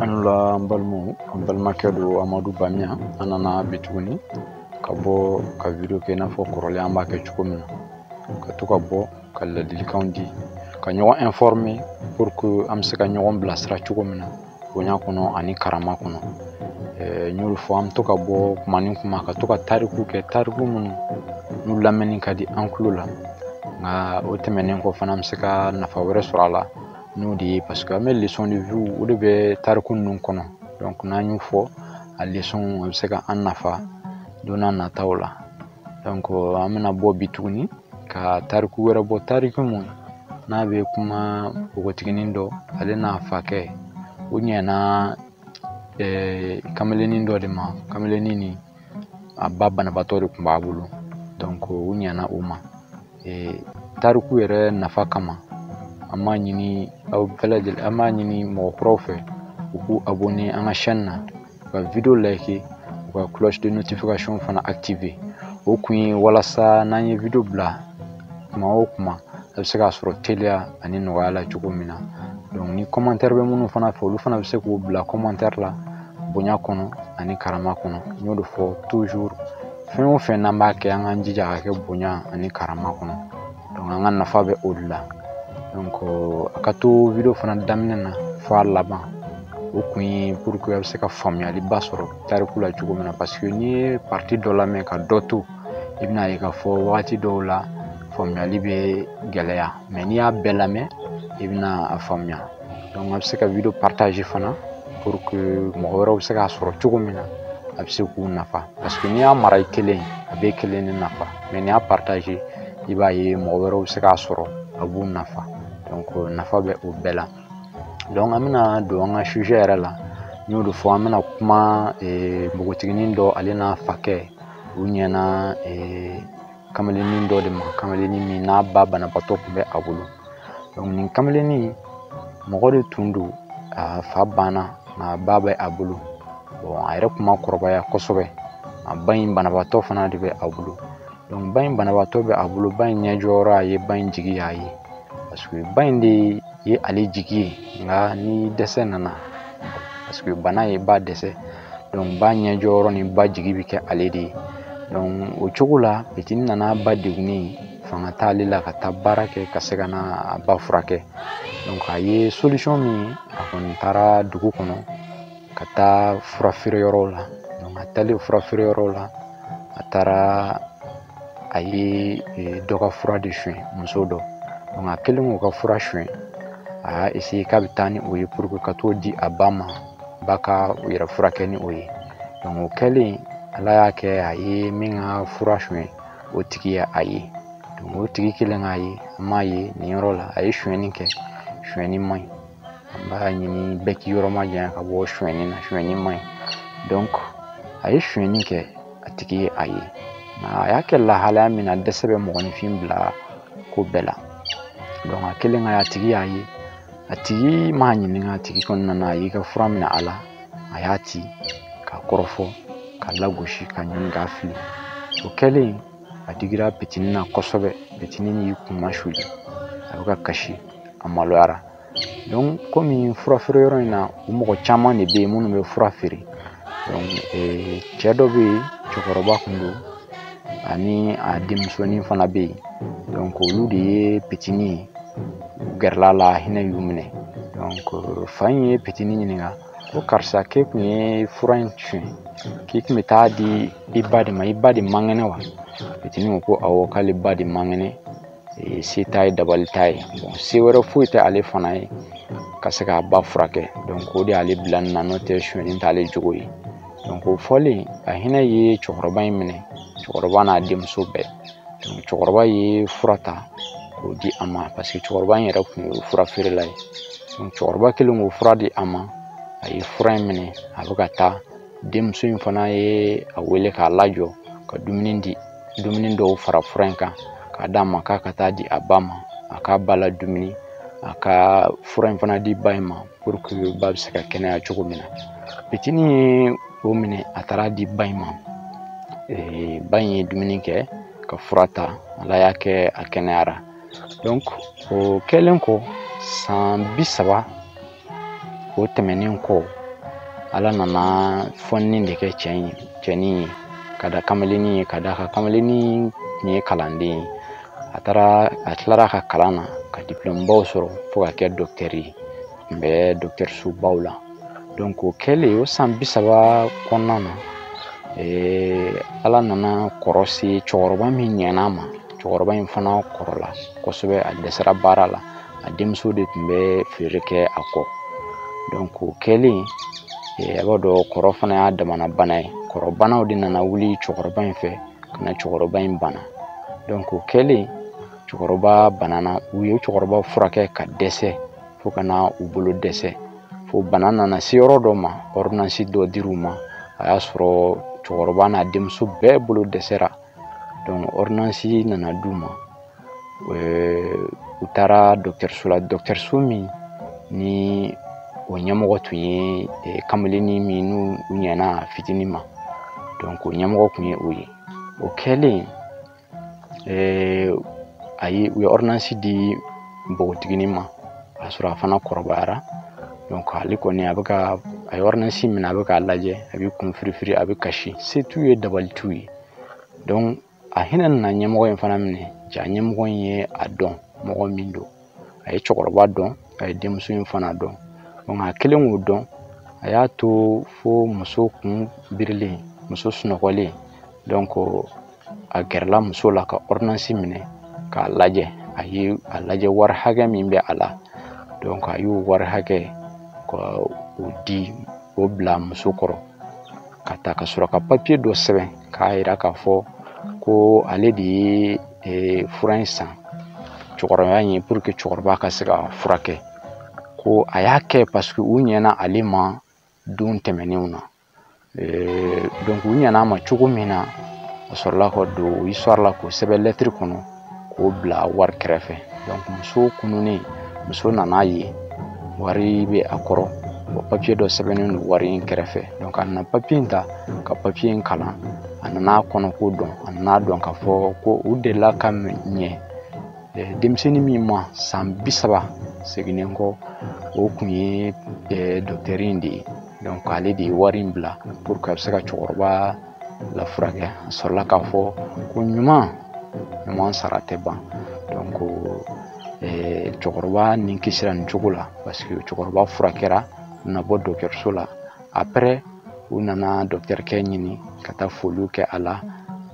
a ni wula an balimaw an balimakɛ don amadu bamiya an nana bi tuguni ka bɔ ka video kɛ i n'a fɔ kɔrɔlen an b'a kɛ cogo min na ka to ka bɔ ka ladilikanw di ka ɲɔgɔn informe pour que an bɛ se ka ɲɔgɔn bilasira cogo min na bonya kɔnɔ ani karama kɔnɔ n y'o de fɔ an bɛ to ka bɔ kuma ni kuma ka to ka tariku kɛ tariku minnu n'u lamɛnni ka di an tulo la nka o tɛmɛnen kɔ fana an bɛ se ka nafa wɛrɛ sɔrɔ a la n'o de ye parce que an bɛ leçon de vie o de bɛ tariku ninnu kɔnɔ donc n'an y'u fɔ a leçon a bɛ se ka an nafa don n'a nataw la an bɛna bɔ bi tuguni ka tariku wɛrɛ bɔ tariku mun n'a bɛ kuma npogotiginin dɔ ale n'a fakɛ u ɲɛna eh, kameleni dɔ de ma kameleni ni a ba banabaatɔ de tun b'a bolo donc u ɲɛna o ma eh, tariku yɛrɛ nafa kama an b'a ɲini aw bɛɛ lajɛlen an b'a ɲini mɔgɔ kuraw fɛ u k'u abonne an ka chaîne na u ka video like u ka cloche de notification fana active o kun ye walasa n'an ye video bila kuma o kuma a bɛ se k'a sɔrɔ teliya ani nɔgɔya la cogo min na donc ni commentaire bɛ minnu fana fɛ olu fana bɛ se k'u bila commentaire la bonya kɔnɔ ani karama kɔnɔ n y'o de fɔ toujours fɛn o fɛn n'an b'a kɛ an k'an jija k'a kɛ bonya ani karama kɔnɔ an ka nafa bɛ o de la donc a ka to video fana daminɛ na fɔ a laban o kun ye pour que a bɛ se ka faamuyaliba sɔrɔ tariku la cogo min na parce que n'i ye partie dɔ lamɛn ka dɔ to i bɛna a ye k'a fɔ wagati dɔw la faamuyali bɛ gɛlɛya mais n'i y'a bɛɛ lamɛn i bɛna a faamuya donc a bɛ se ka video partage fana pour que mɔgɔ wɛrɛw bɛ se k'a sɔrɔ cogo min na a bɛ se k'u nafa parce que n'i y'a mara i kelen a b'e kelen de nafa mais n'i y'a partage i b'a ye mɔgɔ wɛrɛw bɛ se k'a sɔrɔ a b'u nafa donc nafa bɛ o bɛɛ la donc an bɛna don an ka sujet yɛrɛ la n y'o de fɔ an bɛna kuma npogotiginin dɔ ale n'a fakɛ u ɲɛna kamalennin dɔ de ma kamalennin min n'a ba banabaatɔ tun bɛ a bolo donc nin kamalennin mɔgɔ de tun don a fa banna nka a ba bɛ a bolo bon a yɛrɛ tun ma kɔrɔbaya kosɛbɛ a ba in banabaatɔ fana de bɛ a bolo donc ba in banabaatɔ bɛ a bolo ba in ɲɛjɔyɔrɔ a ye ba in jigi y'a ye parce que ba in de ye ale jigi ye nka ni dɛsɛ nana parce que bana ye ba dɛsɛ ba ɲɛjɔyɔrɔ ni ba jigi bɛ kɛ ale de ye donc o cogo la pitini nana ba degunnen fanga t'ale la ka taa baara kɛ ka se ka na a ba furakɛ donc a ye solution min ye a kɔni taara dugu kɔnɔ ka taa fura feere yɔrɔw la donc a taalen fura feere yɔrɔw la a taara a ye e, dɔ ka fura de suɲɛ muso dɔ donc a kɛlen k'o ka fura suɲɛ a y'a essayer k'a bɛ taa ni o ye pour que ka t'o di a ba ma ba k'a yɛrɛ furakɛ ni o ye donc o kɛlen ala y'a kɛ a ye min ka fura suɲɛ o tigi ye a ye donc o tigi kɛlen k'a ye an m'a ye nin yɔrɔ la a ye suɲɛni kɛ suɲɛni man ɲi an b'a ɲini bɛɛ k'i yɔrɔ majanya ka bɔ suɲɛni na suɲɛni man ɲi donc a ye suɲɛni kɛ a tigi ye a ye nka a y'a kɛ lahalaya min na dɛsɛ bɛ mɔgɔninfin bila ko bɛɛ la donc a kɛlen ka a tigi y'a ye a tigi m'a ɲininka a tigi kɔni nana a y'i ka fura minɛ a la a y'a ci k'a kɔrɔfɔ k'a lagosi k'a ɲɔni k'a fili o kɛlen a digira pitini na kosɛbɛ pitini y'i kun masuli a bɛ ka kasi a maloyara donc komi fura feere yɔrɔ in na u mɔgɔ caman de bɛ yen minnu bɛ fura feere cɛ dɔ bɛ yen cɛkɔrɔba kun don ani a denmusonin fana bɛ yen donc olu de ye pitini ye u gɛrɛla a la hinɛ y'u minɛ donc fa in ye pitini ɲininka ko karisa k'e kun ye fura in suɲɛ k'i kun bɛ taa di i ba de ma i ba de man kɛnɛ wa pitini ko ko awɔ k'ale ba de man kɛnɛ se t'a ye dabali t'a ye bon se wɛrɛ foyi tɛ ale fana ye ka se k'a ba furakɛ donc o de y'ale bila nin na n'o tɛ suɲɛni t'ale jogo ye donc o fɔlen a hinɛ ye cɛkɔrɔba in minɛ cɛkɔrɔba n'a denmuso bɛɛ donc cɛkɔrɔba ye fura ta k'o di a ma parce que cɛkɔrɔba in yɛrɛ tun ye fura feerela ye donc cɛkɔrɔba kɛlen k'o fura di a ma a ye fura in minɛ a bɛ ka taa denmuso in fana ye a wele k'a lajɔ ka dumuni di dumuni dɔw fara fura in kan k'a d'a ma k'a ka taa di a ba ma a k'a ba la dumuni a ka fura in fana di ba in ma pour que ba bɛ se ka kɛnɛya cogo min na pitini ye o minɛ a taara di ba in ma ee, ba in ye dumuni kɛ ka fura ta ala y'a kɛ a kɛnɛyara donc o kɛlen kɔ san bi saba o tɛmɛnen kɔ ala nana fɔnni de kɛ cɛ in cɛnin ye ka da kamalennin ye ka da ka kamalennin tun ye kalanden ye a taara a tilara a ka kalan na ka diplɔmubaw sɔrɔ fo ka kɛ dɔkitɛri ye tun bɛ dɔkitɛrisobaw la donc o kɛlen o san bi saba kɔnɔna na ala nana kɔrɔ se cɛkɔrɔba min ɲɛna a ma cɛkɔrɔba in fana kɔrɔla kosɛbɛ a dɛsɛra baara la a denmuso de tun bɛ feere kɛ a kɔ donc o kɛlen a b'a dɔn kɔrɔ fana y'a damana bana ye kɔrɔbanaw de nana wuli cɛkɔrɔba in fɛ ka na cɛkɔrɔba in bana donc o kɛlen cɛkɔrɔba banana u ye cɛkɔrɔba furakɛ ka dɛsɛ fo ka na u bolo dɛsɛ fo bana nana se yɔrɔ dɔ ma ordonnance dɔ dir'u ma a y'a sɔrɔ cɛkɔrɔba n'a denmuso bɛɛ bolo dɛsɛra donc ordonnance nana d'u ma u taara dɔkitɛriso la dɔkitɛriso min ni o ɲɛmɔgɔ tun ye kamalennin min n'u ɲɛna fitinin ma donc o ɲɛmɔgɔ tun ye o ye o kɛlen u ye ordonnance di npogotiginin ma k'a sɔrɔ a fana kɔrɔbayara donc ale kɔni a ye ordonnance minɛ a bɛ k'a lajɛ a bɛ kun firifiri a bɛ kasi se t'u ye dabali t'u ye donc a hinɛ nana ɲɛmɔgɔ in fana minɛ jaa ɲɛmɔgɔ in ye a dɔn mɔgɔ min don a ye cɛkɔrɔba dɔn a ye denmuso in fana dɔn donc a kɛlen k'o dɔn a y'a to fo muso kun birilen muso sunɔgɔlen donc a gɛrɛla muso la ka ordonnance minɛ k'a lajɛ a ye a lajɛ wari hakɛ min bɛ a la donc a y'o wari hakɛ ka o di o bila muso kɔrɔ ka taa ka sɔrɔ ka papiye dɔ sɛbɛn k'a yira k'a fɔ ko ale de ye e, fura in san cɛkɔrɔba in ye pour que cɛkɔrɔba ka se ka furakɛ ko a y'a kɛ parce que u ɲɛna ale ma don tɛmɛnenw na e, donc u ɲɛna a ma cogo min na a sɔrɔla ka don histoire la k'o sɛbɛn lɛtiri kɔnɔ k'o bila wari kɛrɛfɛ donc muso kununnen muso nana a ye wari bɛ a kɔrɔ wa papiye dɔ sɛbɛnnen don wari in kɛrɛfɛ donc a nana papiye in ta ka papiye in kalan a nana kɔnɔko dɔn a nana dɔn k'a fɔ ko u delila ka ɲɛ denmisɛnnin min ma san bi saba seginnen kɔ o kun ye dɔkitɛri in de ye donc ale de ye wari in bila pour que a bɛ se ka cɛkɔrɔba la furakɛ a sɔrɔla k'a fɔ ko ɲuman ɲuman sara tɛ ban donc eh, cɛkɔrɔba ni kisira nin cogo la parce que cɛkɔrɔba furakɛra u nana bɔ dɔgɔtɔrɔso la après u nana dɔgɔtɔrɔkɛ ɲini ka taa foliw kɛ a la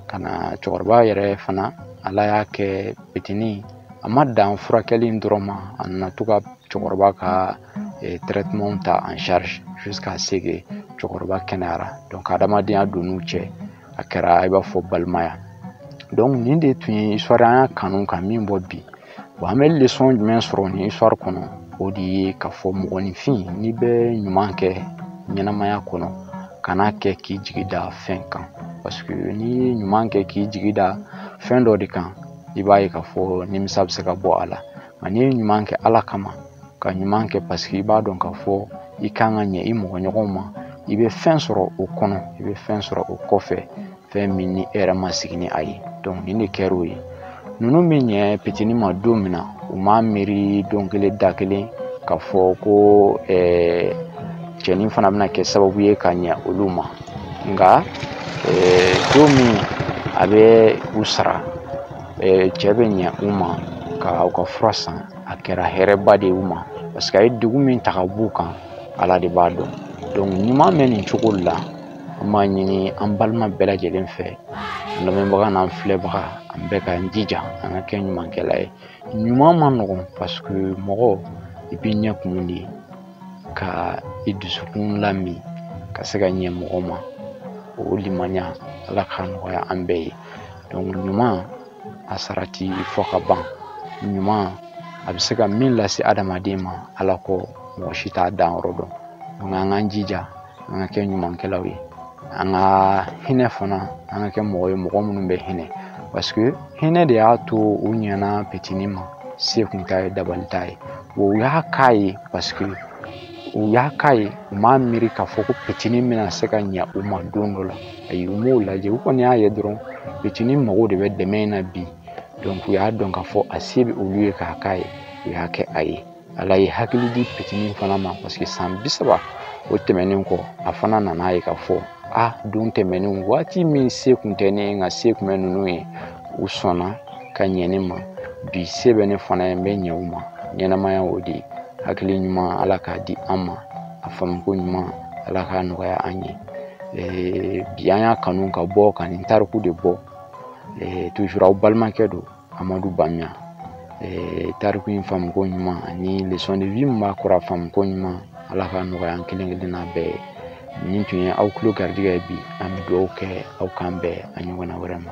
ka na cɛkɔrɔba yɛrɛ fana ala y'a kɛ pitinin a ma dan furakɛli in dɔrɔn ma a nana to ka cɛkɔrɔba ka eh, traitement ta en charge jusqu'à ce que cɛkɔrɔba kɛnɛyara donc adamadenya donn'u cɛ a kɛra i b'a fɔ balimaya donc nin de tun ye histoire an y'a kanu ka min bɔ bi bon an bɛ leçon jumɛn sɔrɔ nin histoire kɔnɔ o de ye k'a fɔ mɔgɔninfin n'i bɛ ɲuman kɛ ɲɛnamaya kɔnɔ kan'a kɛ k'i jigi da fɛn kan parce que n'i ye ɲuman kɛ k'i jigi da fɛn dɔ de kan i b'a ye k'a fɔ nimisa bɛ se ka bɔ a la nka n'i ye ɲuman kɛ ala kama ka ɲuman kɛ parce que i b'a dɔn k'a fɔ i kan ka ɲɛ i mɔgɔ ɲɔgɔn ma i bɛ fɛn sɔrɔ o kɔnɔ i bɛ fɛn sɔrɔ o kɔfɛ fɛn min ni e yɛrɛ ma sigi ni a ye donc nin de kɛra o ye ninnu bɛ ɲɛ petini ma don min na u m'a miiri don kelen da kelen k'a fɔ ko cɛnin fana bɛna kɛ sababu ye ka ɲɛ olu ma nka don min a bɛ u sara cɛ bɛ ɲɛ u ma ka u ka fura san a kɛra hɛrɛba de ye u ma parce que a ye degun min ta ka b'u kan ala de b'a dɔn donc ɲuman bɛ nin cogo la an b'a ɲini an balima bɛɛ lajɛlen fɛ an lamɛnbaga n'an filɛbaga an bɛɛ k'an jija an ka kɛ ɲumankɛla ye ɲuman man nɔgɔn parce que mɔgɔ i b'i ɲɛ kun de ka i dusukun lamin ka se ka ɲɛ mɔgɔ ma o limaniya ala k'a nɔgɔya an bɛɛ ye donc ɲuman a sara tɛ fɔ ka ban ɲuman a bɛ se ka min lase adamaden ma ala kɔ mɔgɔ si t'a dan yɔrɔ dɔn donc an k'an jija an ka kɛ ɲumankɛlaw ye an ka hinɛ fana an ka kɛ mɔgɔ ye mɔgɔ minnu bɛ hinɛ parce que hinɛ de y'a to u ɲɛna petini ma se kun t'a ye dabali t'a ye wa u y'a k'a ye parce que u y'a k'a ye u m'a miiri k'a fɔ ko petini bɛna se ka ɲɛ u ma don dɔ la ayi u m'o lajɛ u kɔni y'a ye dɔrɔn petini mago de bɛ dɛmɛ in na bi donc u y'a dɔn k'a fɔ a se bɛ olu ye k'a k'a ye u y'a kɛ a ye ala ye hakili di petini fana ma parce que san bi saba o tɛmɛnen kɔ a fana nana ye k'a fɔ a don tɛmɛnen waati min se kun tɛ ne ye nka se kun bɛ ninnu ye u sɔnna ka ɲɛ ne ma bi se bɛ ne fana ye n bɛ ɲɛ u ma ɲɛnamaya o de ye hakili ɲuman ala k'a di an ma a faamuko ɲuman ala k'a nɔgɔya an ye eh, bi an y'a kanu ka bɔ ka nin tariku de bɔ eh, toujours aw balimakɛ don amadu bamiya eh, tariku in faamuko ɲuman ani leçon de vie min b'a kɔrɔ a faamuko ɲuman ala k'a nɔgɔya an kelen kelenna bɛɛ ye nin tun ye aw tulo garijɛgɛ ye bi an bɛ dugawu kɛ aw k'an bɛn a ɲɔgɔnna wɛrɛ ma